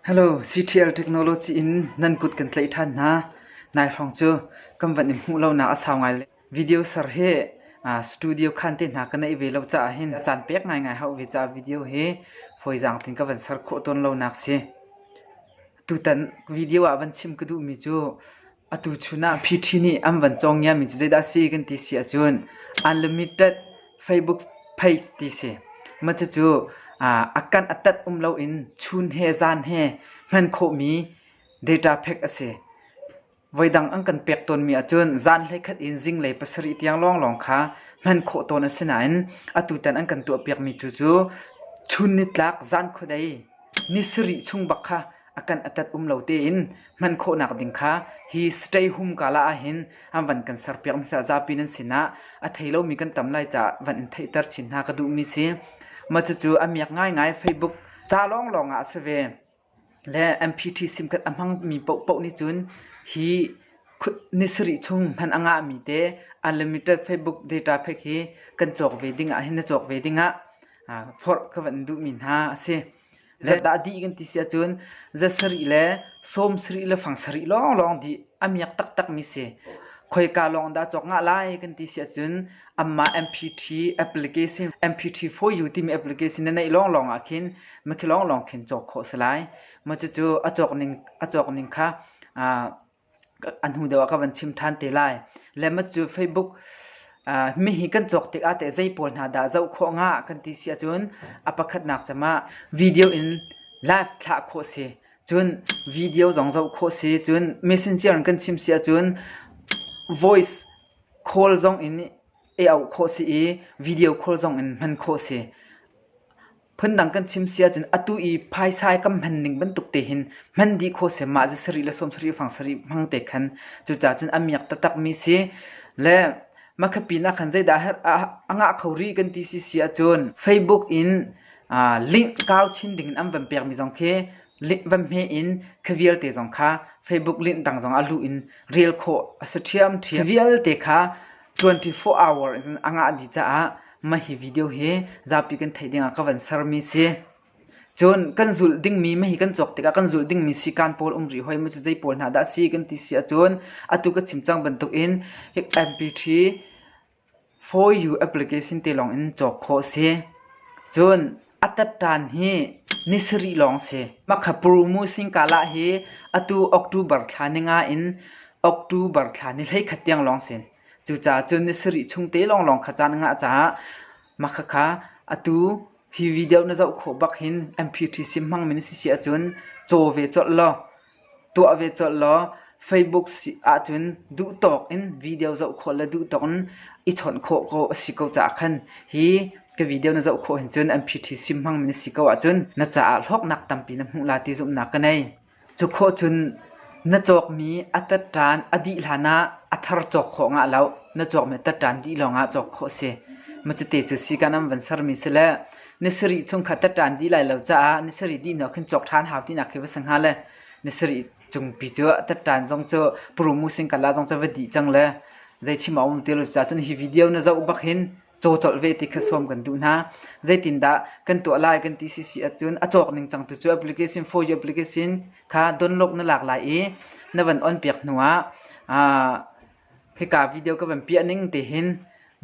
Hello, CTL Technology in nan kut kan tlaih ṭhan hna. Nai hrawng cu kan van in hmuh lonak a sau ngai le video ser hi studio khan te hna ka neih ve lo caah hin a caan pek ngaingai hau ve caah video hi fawizaang tin ka van ser khawh tawn lonak si. Tutan video ah van chim ka duhmi cu Atu chun ah Pty nih an van cawngiami cu zeidah a si kan ti si ahcun unlimited Facebook page ti si. Mah cucu a kan a tat um loin chun he zan he hman khawhmi data pack a si. Voidang an kan pek tawnmi ahcun zan hleikhat in zinglei pasarih tiang lawnglawng kha hman khawh tawn a si nain atutan an kan tuahpiakmi tu cu chun nitlak zan khuadei ni sarih chung bak kha a kan atat um lo tein hman khawhnak ding kha hi stay hum kala ah hin an van kan ser piak mi sa zapi nan sinah a thei lomi kan tam lai ca van in theihter chin hna ka duh mi si ma cu a miak ngai ngai facebook ca long long ah se ve le MPT sim kat amang mi po po ni chun hi ni sri chung man anga mi te unlimited facebook data phek hi kan chok ve ding ah hin na chok ve ding ah for ka van du min ha asi Zetdah dih kan ti si ahcun za sarih le sawm sarih le fang sarih lawnglawng dih a miak taktakmi si. Khoika lawng dah cawk ngah lai kan ti si ahcun amah MPT application MPT for you timi application na neih lawnglawng ah khin makhi lawnglawng khin cawk khawh a si lai. Macucu a cawk ning a cawk ning kha aa a hnu deuh ah ka van chim ṭhan te lai. Lemma cu Facebook mi hi kan cawk tikah teh zei pawl hna dah zoh khawh hnga kan ti si ahcun a pakhatnak cem ah video in live thlah khawh si. Cun video zong zoh khawh si. Cun messenger in kan chim si ahcun voice call zong in i auh khawh si i video call zong in hman khawh si. Phundang kan chim si ahcun atu i phaisa i kan hman ning bantuk te hin hman dih kho sem ah za sarih le sawm sarih fang sarih hmang te khan cucaah cun a miak taktakmi si. Le makha pinah khan zeidah a ngah kho rih kan ti si si ahcun Facebook in link kau chin dingin an van pekmi zong khi link van hme in khi vialte zong kha Facebook link dang zong a lu in rel khawh a si ṭhiamṭhiam. Khi vialte kha 24 hour in a ngah dih caah mah hi video hi zapi kan theih dingah ka van sermi si. Cun kan zulh dingmi mah hi kan cawk tikah kan zulh dingmi sikan pawl um rih hoi mu cu zei pawl hna dah si kan ti si ahcun atu ka chim cang bantukin hi MP3 for you application te lawng in cawk khawh si. Cun A tatṭan hi ni sarih lawng si. Makhapurumu singkahlah hi atu October thla ni nga in October thla ni hleikhat tiang lawng si. Cucaah cun ni sarih chung te lawnglawng kha caan a ngah caah mahka kha atu hi video na zoh khawh bak hin MPTC hmangmi na si si ahcun caw ve colh law Tuah ve colh law Facebook ahcun duhtawk in video zoh khawh le duhtawk in i chawnh khawh ko a si ko caah khan hi ka video na zoh khawh hin cun an PTC hmangmi na si ko ahcun na caah hlawknak tampi na hmuh la ti zumhnak ka nei. Cu khawh cun na cawkmi a tatṭan a dih hlan ah a thar cawk khawh ngah lo. Na cawkmi a tatṭan dih lawngah cawk khawh a si. Macite cu sikan an van sermi si le na sarih chung kha tat ṭan dih lai lo caah na sarih dih hnuah khin cawk ṭhan hau tinak khi va si hnga le na sarih cung pi cu tat ṭan zong cu puru musing kala zong cu va dih cang le zei chim a um ti lo cucah cun hi video na zoh bak hin caw colh ve ti kha sawm kan duh hna zeitindah kan tuah lai kan ti sisi ahcun a cawk ning cang tu cu application for you application kha download na lak lai i na van on piak hnuah Hika video ka van piah ning tihin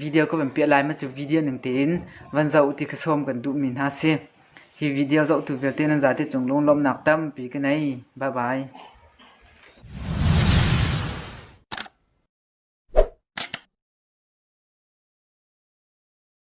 video ka van piah lai ma cu video ning tein van zoh ti ka sawm kan duhmi hna si. Hi video zohtu vialte nan zate cung lunglawmnak tampi ka nei. Bye bye.